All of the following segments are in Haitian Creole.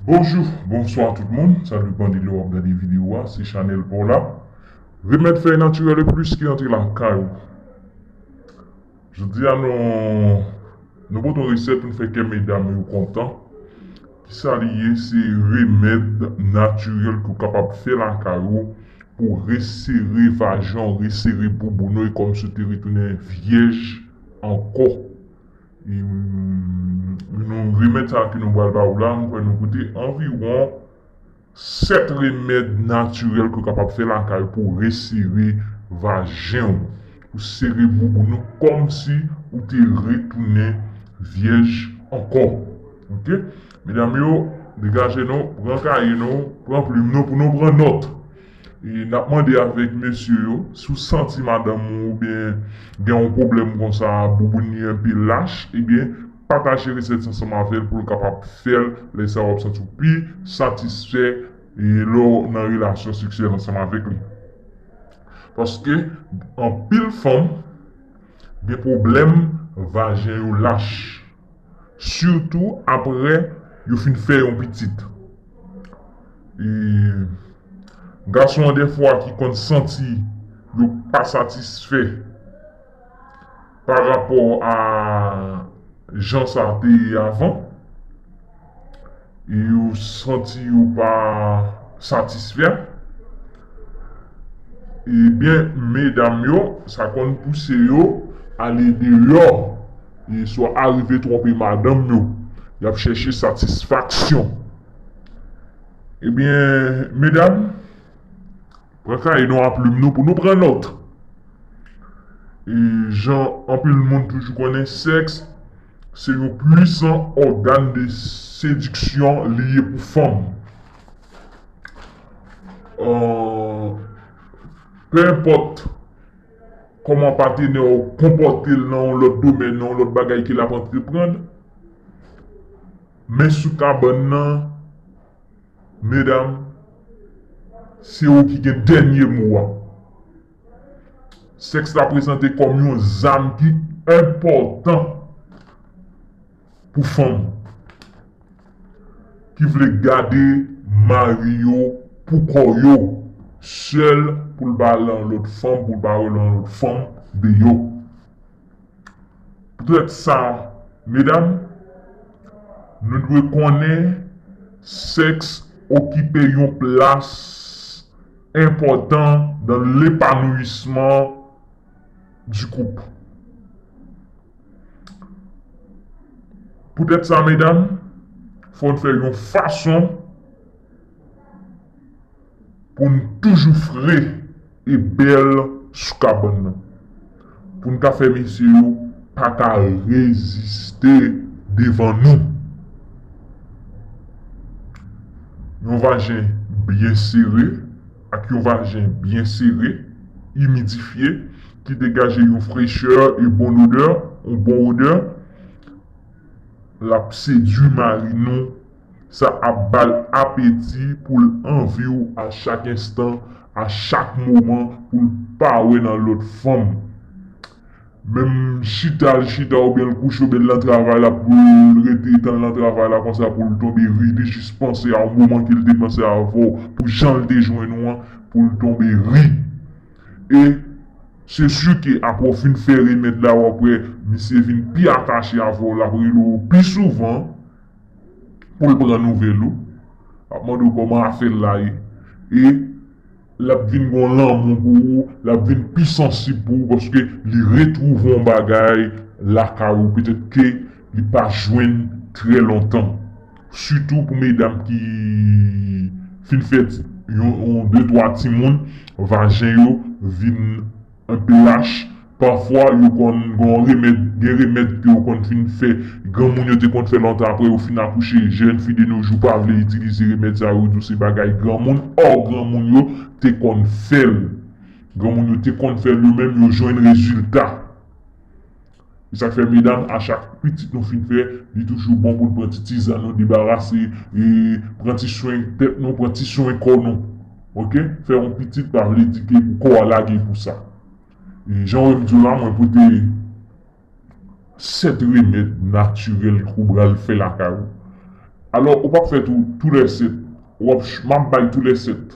Bonjou, bonswa tout moun, sa depan de lè wap gade video a, se chanèl paw la, remèd fèy natirèl e plis ki rantre lakay ou. Jodia nou pote yon resèt poun fè kè medam yo kontan, kisa li ye se remèd natirèl ke w kapab fè lakay ou pou resere vajan w, resere bouboun ou e kòmsi w te retounen vyèj ankò. Nan remèd sa ke nou pral ba ou la, mwen kwè nou koute anviwon 7 remèd natirèl ke ou kapab fè lakay ou pou ou resere vajen ou. Pou sere bouboun ou kòmsi ou te retounen vyèj ankò. Ok! Medam yo, degaje nou, pran kaye nou, pran plim nou pou nou pran nòt. E nap mande avèk mesye yo, si w santi madanm ou oubyen gen yon pwoblèm konsa bouboun li anpe lach ebyen pataje resèt sa ansanm avè l pou l kapab fè l lè sa wap santi w pi satisfè lè w nan relasyon seksyèl ansanm avèk li paske anpil fanm gen pwoblèm vajen yo lach. Sitou apre yo fin fè yon pitit. E gason an dèfwa ki konn santi yo pa satisfè pa rapò a jan sa te ye avan. yo santi yo pa satisfè ebyen medam yo sa konn pouse yo ale deyò e swa arive twonpe madanm yo yap chèche satisfaksyon ebyen medam pran kaye nou a plim nou pou nou pran nòt e jan anpil moun toujou konnen sèks. Se yon pwisan ògàn de sediksyon li ye pou fanm. Pe enpòt kòman patenè w konpòte l nan yon lòt domèn, nan yon lòt bagay ke l ap antreprann, men sou kabann nan, medam, se ou ki gen dènye mo a. Sèks la prezante kòm yon zam ki enpòtan pou fanm ki vle gade mari yo pou kò yo, sèl pou l pa al nan yon lòt fanm, pou l pa wè yon lòt fanm deyò. Poutèt sa, medam, nou dwe konnen sèks okipe yon plas enpòtan nan lepanouyisman di koup. Poutèt sa medam, fò n fè yon fason. Pou n toujou fre e bèl sou kabann nan. Pou n ka fè mesye yo pa ka reziste devan nou. Yon vajen byen sere ak yon vajen byen sere, imidifye, ki degaje yon frechè e bon odè, yon bon odè, l ap sedui mari nou Sa ap ba l apeti pou l anvi w a chak enstan, a chak moman pou l pa wè nan lòt fanm. Menm chita l chita oubyen l kouche oubyen l nan travay la pou l rete tann l nan travay la konsa pou l tonbe ri, li jis panse a yon moman ke l te panse avè w pou jan l te jwenn ou an pou l tonbe ri. E se si ke apre w fin fè remèd la w ap wè misye vin pi atache avè w l ap rele w pi souvan. poul pran nouvèl ou lap mande w kòman afèl la ye e lap vin gen yon lanmou pou ou lap vin pi sansib pou ou paske li retwouve yon bagay lakay ou petèt ke li pa jwenn trè lontan sitou pou medam ki fin fè yon de twa timoun vajen yo vin Mph, Pafwa yo konn gon remèd, gen remèd ke yo konn fin fè, granmoun yo te konn fè lontan aprè yo fin akouche, jèn fi de no jou pa vle itilize remèd sa yo di w se bagay granmoun, or granmoun yo te konn fè l. Granmoun yo te konn fè l yo menm yo jwenn rezilta. Se sak fè medam achak pitit nou fin fè li toujou bon poun pran ti tizann nou debarase pran ti swen tèt nou pran ti swen kò nou ok fè yon pitit pa vle di ke pou kò a lage pou sa jan wèm diw la mwen pote 7 remèd natirèl ke ou bral fè lakay ou alò ou pap fè tou lè 7 map bay tou lè 7.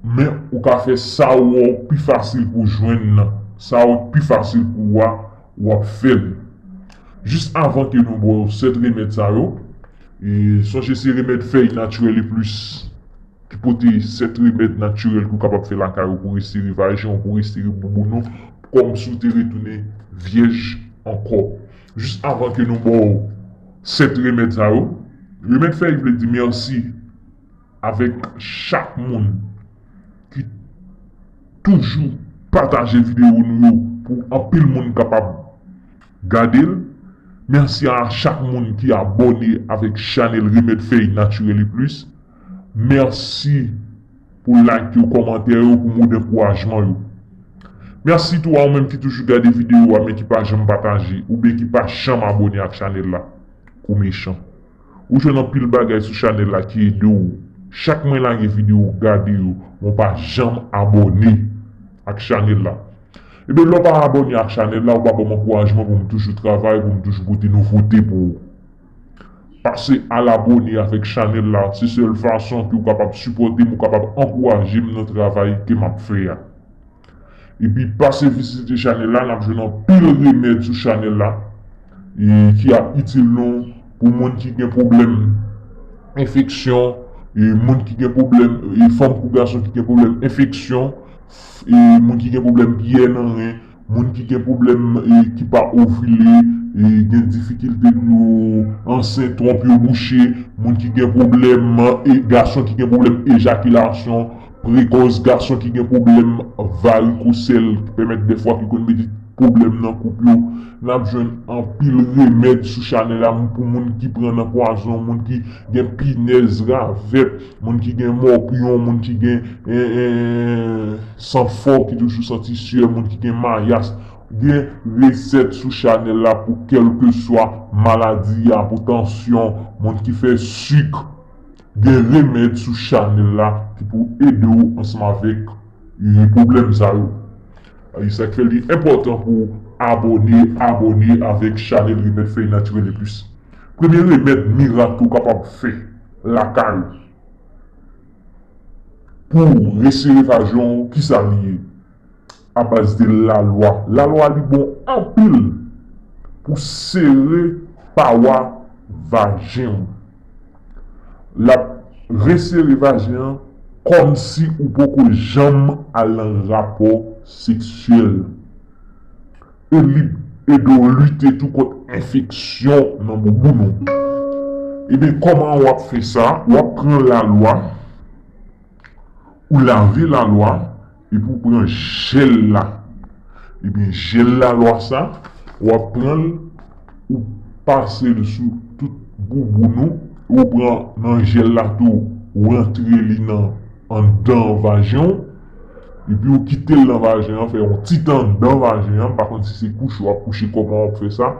Men ou ka fè sa ou wè ou pi fasil pou w jwenn nan. Sa ou pi fasil pou ou a, ou ap fè l. Jis avan ke nou bwè yo 7 remèd sa yo, sonje se remèd fèy natirèl e plis ki pote 7 remèd natirèl ke ou kapab fè lakay ou pou restire vajen ou, pou restire bouboun ou, kòm si ou te retounen vyèj ankò. Jis avan ke nou bwè yo 7 remèd sa yo, remèd fèy vle di mèsi. Avèk chak moun ki toujou pataje video nou yo pou anpil moun kapab gadel. Merci a chak moun ki abone avèk chanel Remed Fèy Naturel et Plus. Merci pou like yo, kòmantè yo, pou mo dankourajman yo. Merci tou a ou menm ki toujou gade video a men ki pa janm pataje oubyen ki pa janm abone ak chanel la. Ou mechan. Ou jwenn anpil bagay sou chanèl la ki edew chak mwen lage video gade yo men w pa janm abòne ak chanèl la ebyen lèw pa abòne ak chanèl la ou pa banm ankourajman poum toujou travay poum toujou pote nouvote pou ou pase al abòne avèk chanèl la se sèl fason ke ou kapab sipòtem ou kapab ankourajem nan travay ke map fè a. Epi pase vizite chanèl la nap jwenn anpil remèd sou chanèl la ki ap itil nou pou moun ki gen pwoblèm enfeksyon, moun ki gen pwoblèm, fanm kou gason ki gen pwoblèm enfeksyon, moun ki gen pwoblèm pyè nan ren, moun ki gen pwoblèm ki pa ovile, gen difikilte pou yo ansent, twonp yo bouche, moun ki gen pwoblèm, gason ki gen pwoblèm ejakilasyon, Prekòz, Gason ki gen pwoblèm varikosèl ki pèmèt dèfwa ki konn mete pwoblèm nan koup yo, n ap jwenn anpil remèd sou chanèl la pou moun ki pran nan pwazon, moun ki gen pinèz, ravèt, moun ki gen mòpyon, moun ki gen san fò ki toujou santi syè, moun ki gen mayas. Gen resèt sou chanèl la pou kèlkeswa maladi a, pou tansyon, moun ki fè sik. Gen remèd sou chanèl la ki pou ede w ansanm avèk pwoblèm sa yo e sa k fè li enpòtan pou w abòne abòne avèk chanèl remèd fèy natirèl eplis premye remèd mirak ou kapab fè lakay ou pou w resere vajen w kisa li ye? A baz de la lwa. La lwa li bon anpil pou sere pawa vajen ou. Lap resere vajen an kòm si ou poko janm al nan rapò seksyèl. E li ede w lite tou kont enfeksyon nan bouboun ou. Ebyen kòman wap fè sa, wap pran la lwa, ou lave la lwa. Epi ou pran jel la. Ebyen jel la lwa sa wap pranl ou pasel sou tout bouboun ou e ou pran nan jel la tou ou rantre li nan anndan vajen w epi ou kitel nan vajen an fè yon ti tan anndan vajen an m pa konn si se kouche wap kouche kòman wap fè sa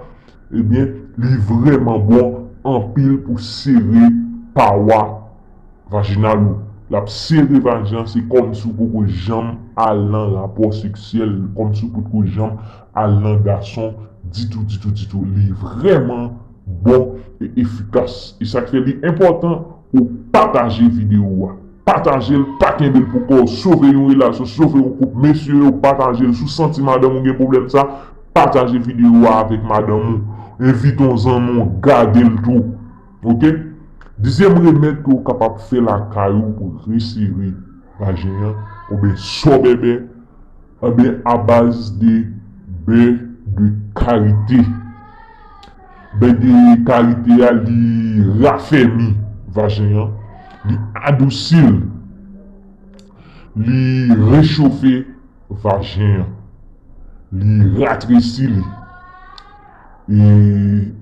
ebyen li vrèman bon anpil pou sere pawa Vaginal ou. Lap sere vajen an se kòmsi ou poko janm al nan rapò seksyèl, kòmsi ou potko janm al nan gason ditou ditou ditou. Li vrèman bon e efikas. E sak fè li enpòtan pou w pataje videyo a. Pataje l, pa kenbe l pou kò w. Sove yon relasyon, sove yon koup. Mesye yo pataje l. Si w santi madanm ou gen pwoblèm sa, pataje videyo a avèk madanm ou. Envite yon zanmi w gade l tou. Ok Dizyèm remèd ke ou kapab fè lakay ou pou resere vajen an oubyen so bèbè Anben abaz de bè de karite Bè de karite a li rafèmi vajen an Li adousi l Li rechofe vajen an Li ratresi li E.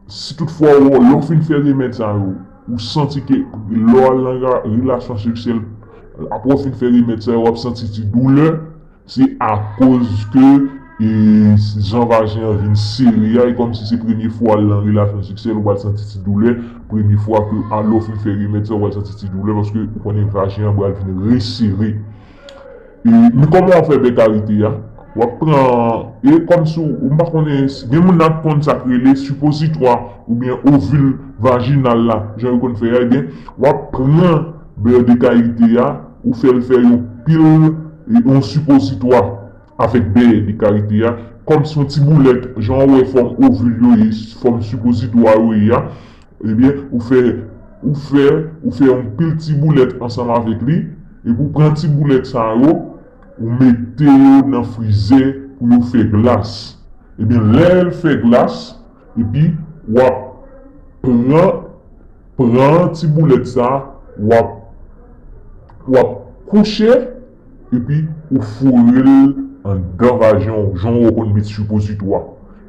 Si tout fwa ou lè ou fin fè remèd sa yo ou santi ke lè ou nan relasyon seksyèl aprè ou fin fè remèd sa yo wap santi ti doulè se akoz ke jan vajen an vin sere a e kòmsi se premye fwa ou nan relasyon seksyèl ou pral santi ti doulè premye fwa ke lè ou fin fè remèd sa yo ou pral santi ti doulè paske ou konnen vajen an pral vin resere. E men kòman wap fè bè karite a, wap pran e kòm si w m pa konnen gen moun nan k konn sa k rele sipozitwa oubyen ovil vajinal la jan yo konn fè a ebyen wap pran bè de karite a ou fè l fè yon pil yon sipozitwa Avèk dèyè li karite a, kòm se yon ti boulèt, jan ou wè fòm ovil yo ye, fòm sipozitwa yo ye a, ebyen ou fè, ou fè, ou fè yon pil ti boulèt ansanm avèk li, epi ou pran ti boulèt sa yo, ou mete yo nan frizè pou yo fè glas. Ebyen lè l fè glas, epi w ap pran, pran ti boulèt sa, w ap, w ap kouche. epi ou foure l anndan vajen w jan w konn met sipozitwa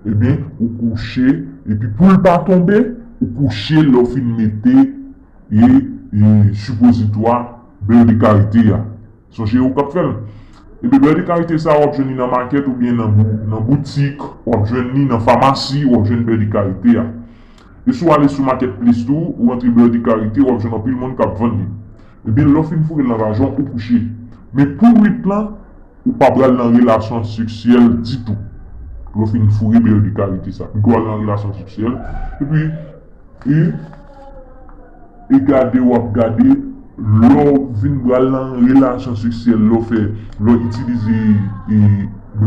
ebyen ou kouche epi pou l pa tonbe ou kouche l lè w fin mete sipozitwa bè de karite a sonje ou kap fè l ebyen bè de karite sa w ap jwenn li nan makèt oubyen nan boutik w ap jwenn li nan famasi w ap jwenn bè de karite a e si w ale sou makèt plis tou ou rantre bè de karite w ap jwenn anpil moun kap vann li. Ebyen lè w fin foure l nan vajen w ou kouche. Men pou nwit lan ou pa pral nan relasyon seksyèl ditou. Lè w fin foure bèl de kavite sa. Pito w al nan relasyon seksyèl epi e e gade w ap gade lè w fin pral nan relasyon seksyèl lè w fè lè w itilize e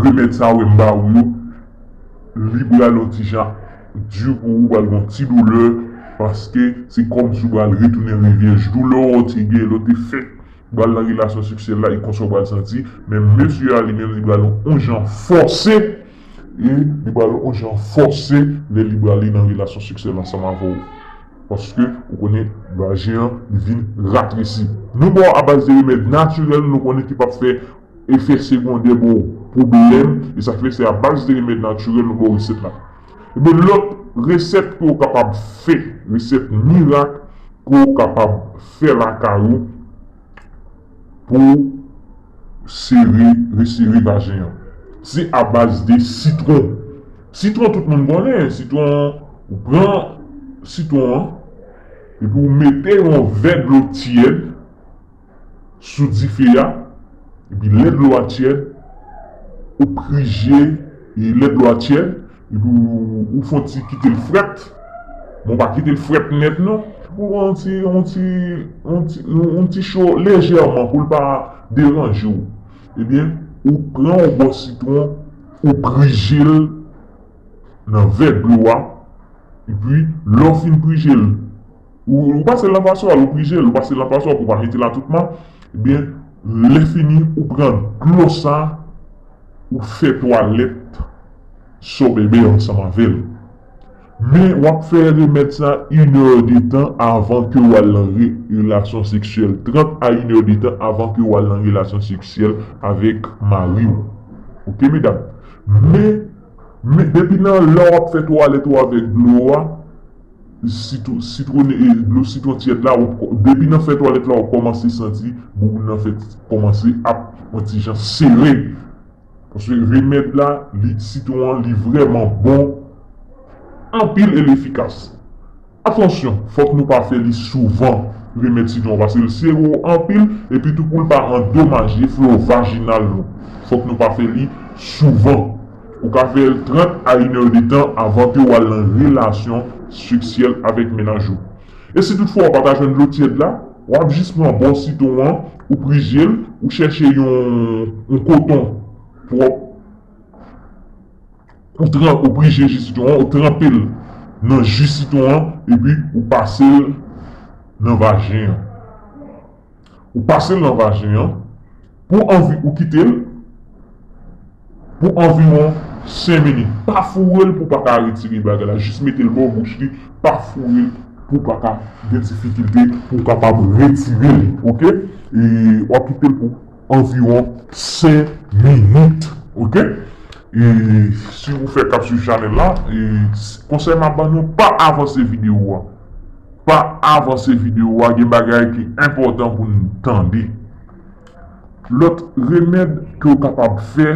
remèd sa wè m ba ou yo li pral yon ti jan Di pou ou pral gon ti doulè paske se kòm si ou pral retounen revyèj doulè ou te gen lè ou te fèk pral nan relasyon seksyèl la e konsa ou pral santi men mesye a li menm li pral on jan fòse e li pral on jan fòse lè li prale nan relasyon seksyèl ansanm avè ou paske ou konnen vajen an li vin ratresi nou ba w abaz de remèd natirèl nou konnen ki pap fè Efè segondè bon pwoblèm e sa fè se a baz de remèd natirèl nou bo resèt la. Ebyen lòt resèt ke w kapab fè, resèt mirak ke w kapab fè lakay ou pou w sere, resere vajen an. Se a baz de sitwon. Sitwon tout moun konnen, sitwon ou pran sitwon an epi ou mete yon vè dlo tyèd. sou dife a epi lè dlo a tyèd ou prije e lè dlo a tyèd epi ou fon ti kitel frèt men ou pa kitel frèt nèt non pou l yon ti yon ti yon ti cho lejèman pou l pa deranje w ebyen ou pran yon bò sitwon ou prije l nan vè dlo a epi lè w fin prije l. Ou pase l nan paswa l, ou prije l, ou pase l nan paswa pou pa mete la tout man, ebyen lè fini ou pran dlo sa ou fè twalèt so bebe ansanm avè l. Men wap fè remèd sa 1 è de tan avan ke ou al nan relasyon seksyèl, 30 a 1 è de tan avan ke ou al nan relasyon seksyèl avèk mari w. Ok medam. Men, men depi nan lè wap fè twalèt ou avèk dlo a. Dlo sitwon tyèd la, depi nan fen twalèt la wap kòmanse santi bouboun nan fè kòmanse ap yon ti jan sere. Paske remèd la, sitwon an li vrèman bon anpil e l efikas. Atansyon, fòk nou pa fè li souvan remèd sitwon an paske l sere anpil epitou pou l pa andomaje flo vajinal nou. Fòk nou pa fè li souvan. Ou ka fè l 30 a inè de tan avan ke w al nan relasyon seksyèl avèk mennaj ou. E si toutfwa ou pa ta jwenn dlo tyèd la, w ap jis pran bò sitwon an, ou prije l, ou chèche yon koton pwòp, ou prije ji sitwon an, ou tranpe l nan ji sitwon an epi ou pase l nan vajen an. Ou pasel nan vajen an pou anvi ou kitel pou anviwon 5 minit pa fourel pou paka retire bagay la jis metel bò bouch li pa fourel pou paka gen difikilte pou kapab retirel ok wap kitel pou anviwon 5 minit ok e si ou fèk ap swiv chanèl la e konsèy map ban nou pa avanse video a pa avanse video a gen bagay ki enpòtan pou nou tande lòt remèd ke ou kapab fè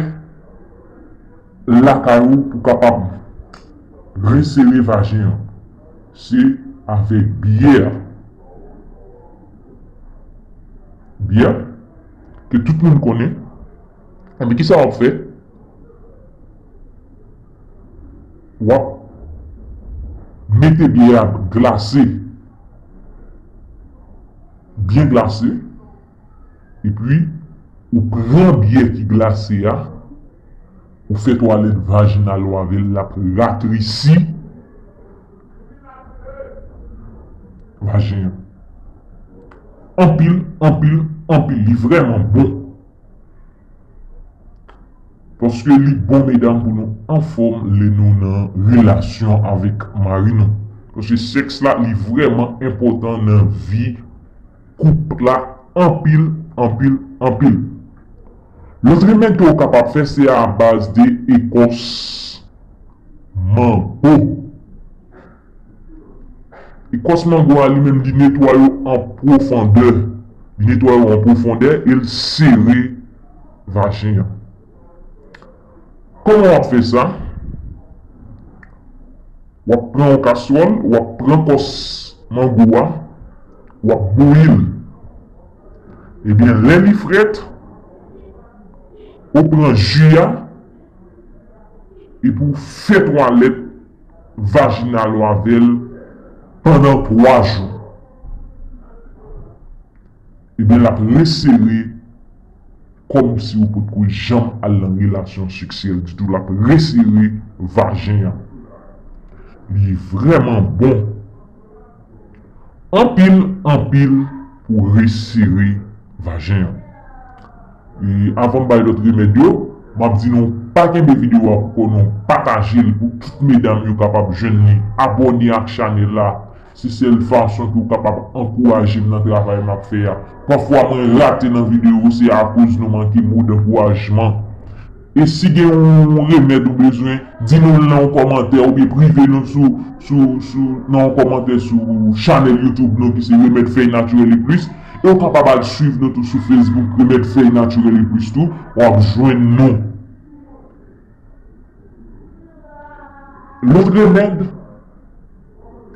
lakay ou pou kapab resere vajen an se avèk byè. Biyè ke tout moun konnen, enben kisa wap fè? Wap mete biyè a glase, byen glase, epi ou pran biyè ki glase a, ou fè twalèt vajinal ou avèl lap ratresi. Vajen an anpil anpil anpil li vreman bon. Paske li bon medam pou nou anfom le nou nan relasyon avek mari nou. Paske seks la li vreman enpotan nan vi koup la anpil anpil anpil. Lot remèd ke ou kapab fè se a baz de ekos. mango. Ekòs mango a li menm li netwaye an pwofondè. Li netwaye ou an pwofondè e l sere vajen an. Kòman w ap fè sa? W ap pran yon kaswòl, w ap pran kòs mango a, w ap bouyi l. Ebyen lè li frèt, ou pran ji a. Epi w fè twalèt vajinal ou avè l pandan 3 jou. Ebyen l ap resere kòmsi ou potko janm al nan relasyon seksyèl ditou. L ap resere vajen an. Li vrèman bon Anpil anpil pou resere vajen an. E avanm bay lòt remèd yo map di nou pa kenbe video a poukò non patajel pou tout medam yo kapab jwenn li abòne ak chanèl la se sèl fason ke ou kapab ankourajem nan travay map fè a pafwa mwen rate nan video se akoz nou manke mo dankourajman E si gen yon remèd ou bezwen, di nou l nan yon kòmantè oubyen prive nou sou nan yon kòmantè sou chanèl youtube nou ki se Remèd Fèy Natirèl e Plis e ou kapab al swiv nou tou sou facebook Remèd Fèy Natirèl e Plis tou w ap jwenn nou. Lòt remèd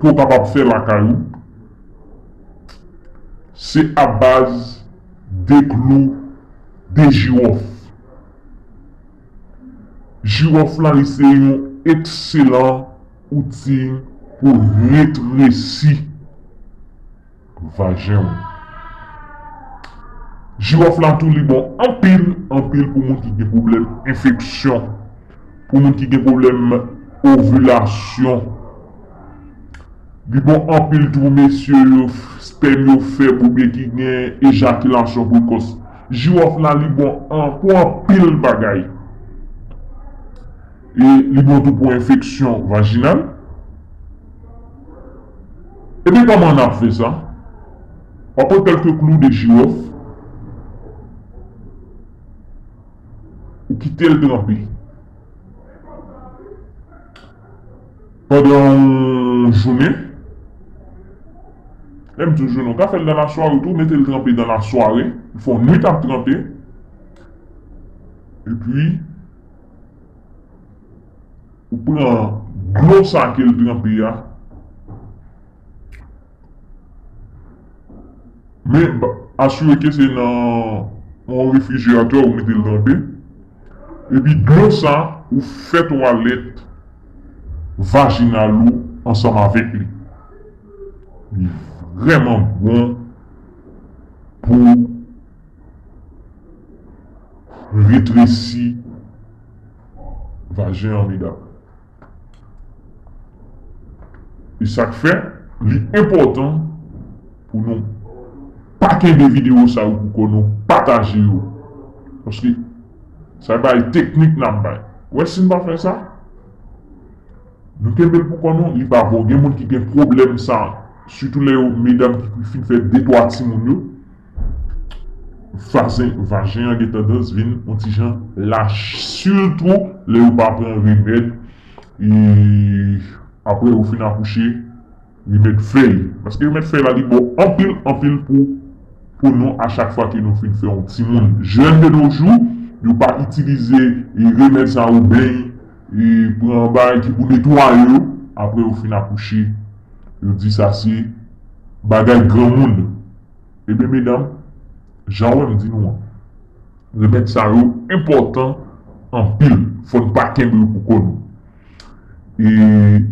ke ou kapab fè lakay ou se abaz de klou de jiwòf. Jiwòf la se yon ekselan outi pou retresi vajen ou. Jiwòf la tou li bon anpil anpil pou moun ki gen pwoblèm enfeksyon, pou moun ki gen pwoblèm ovilasyon. Li bon anpil tou mesye yo spèm yo fèb oubyen ki gen ejakilasyon prekòs. Jirof la li bon an pou anpil bagay e li bon tou pou enfeksyon vajinal ebyen kòman nap fè sa wap pran kèlke klou de jirof ou kitel tranpe. Pandan yon jounen. Lè m di yon jounen, w ka fè l nan lasware tou, mete l tranpe nan lasware, ou fè yon nwit ap tranpe, epi ou pran dlo sa ke l tranpe a. Men, asire ke se nan yon refrijeratè ou mete l trempe. Epi dlo sa a, ou fè twalèt vajinal ou ansanm avèk li. Li vrèman bon pou retresi vajen an medam. E sak fè li enpòtan pou nou pa kenbe video sa yo pou kò nou pataje yo paske sa yo bay teknik nap bay ou wè sin pa fè sa nou kenbel pou kò nou li pa bon gen moun ki gen pwoblèm sa sitou lè yo medam ki fin fè de twa timoun yo. vajen an gen tandans vin on ti jan lach sitou lè yo pa pran remèd aprè yo fin akouche remèd fèy paske remèd fèy la li bon anpil anpil pou nou a chak fwa ke nou fin fè on timoun jèn de no jou yo pa itilize remèd sa yo beny pran bagay ki pou netwaye yo aprè yo fin akouche yo di sa se bagay granmoun. Ebyen medam, jan wè m di nou an, remèd sa yo enpòtan anpil, fò n pa kenbe yo pou kò nou. E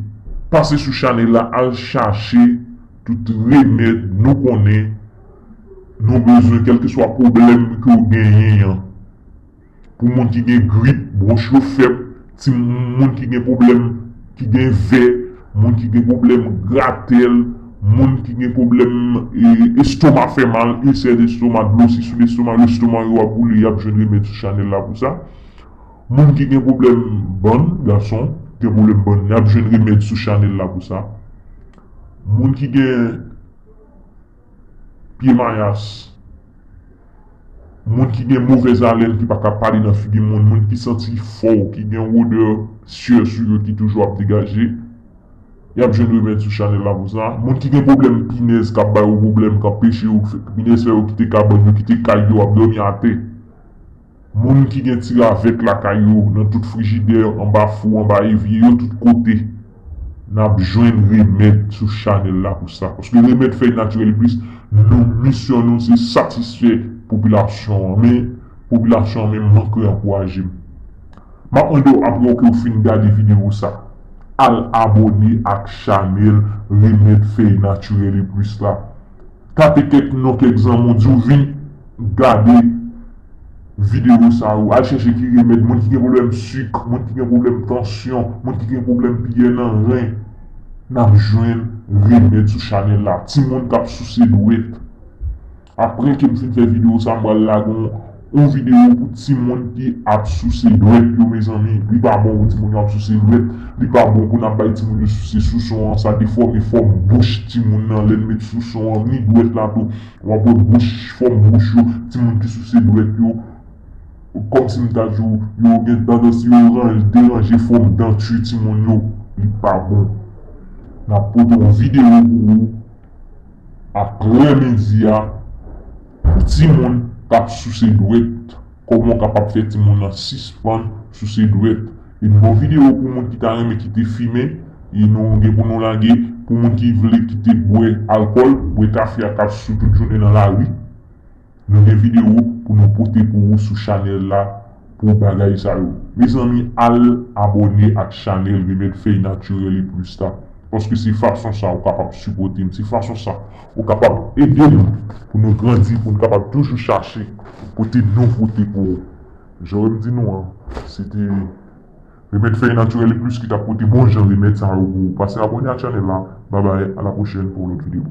pase sou chanèl la al chache tout remèd nou konnen nou bezwen kèlkeswa pwoblèm ke w genyen an. Pou moun ki gen grip, bwonch yo fèb, ti moun ki gen pwoblèm ki gen vè, moun ki gen pwoblèm gratèl, moun ki gen pwoblèm estoma fè mal, ilsè lestoma, dlo si sou lestoma, lestoma yo ap boule yap jwenn remèd sou chanèl la pou sa. Moun ki gen pwoblèm bann, gason ki gen pwoblèm bann yap jwenn remèd sou chanèl la pou sa. Moun ki gen. pye mayas, moun ki gen movèz alèn ki pa ka pale nan figi moun, moun ki santi fò, ki gen yon odè syè sou yo ki toujou ap degaje, y ap jwenn remèd sou chanèl la pou sa. Moun ki gen pwoblèm pinèz k ap ba yo pwoblèm, k ap peche yo, pinèz fè yo kite kabann yo, kite kay yo, ap dòmi atè. Moun ki gen ti ravèt lakay yo, nan tout frijidè, anba fou, anba evye yo, tout kote. Nap jwenn remèd sou chanèl la pou sa. Paske remèd fèy natirèl plis, nou misyon nou se satisfè popilasyon an. Men popilasyon an menm manke ankouraje m. Map mande w aprè w ke w fin gade videyo sa, al abone ak chanèl remèd fèy natirèl e plis la. Tape kèk non kèk zanmi w di w vin gade videyo sa yo. Al chèche ki remèd moun ki gen pwoblèm suk, moun ki gen pwoblèm tansyon, moun ki gen pwoblèm piyè nan ren. N ap jwenn remèd sou chanèl la. Timoun k ap souse dwèt. Apre ke m fin fè videyo sa, m pral lage yon. Yon video pou timoun ki ap souse dwèt yo mezanmi li pa bon pou timoun yo ap souse dwèt li pa bon pou nap bay timoun yo souse souson an sa defòme fòm bouch timoun nan lèn met souson an ni dwèt la tou wap wè bouch fòm bouch yo timoun ki souse dwèt yo kòmsi m ta di w yo gen tandans yo deranje fòm denture timoun yo li pa bon nap pote yon video pou ou. Aprè midi a pou timoun kap souse dwèt kòman ou kapab fè timoun nan sispann souse dwèt e nou gen yon video pou moun ki ta renmen kite fimen e nou gen pou nou lage pou moun ki vle kite bwè alkòl bwè kafe ak kap sou tout jounen nan lari. Nou gen video pou nou pote pou ou sou chanel la pou bagay sa yo. Mezanmi al abone ak chanel remed fey naturel e plus la paske se fason sa ou kapab sipotem se fason sa ou kapab edem pou nou grandi poun kapab toujou chache pote nouvote pou ou. Joem di nou an se te remed fey naturel e plus ki tap pote bon jan remed sa yo pou ou pase abone ak chanel la babay a la prochèn pou yon lot video.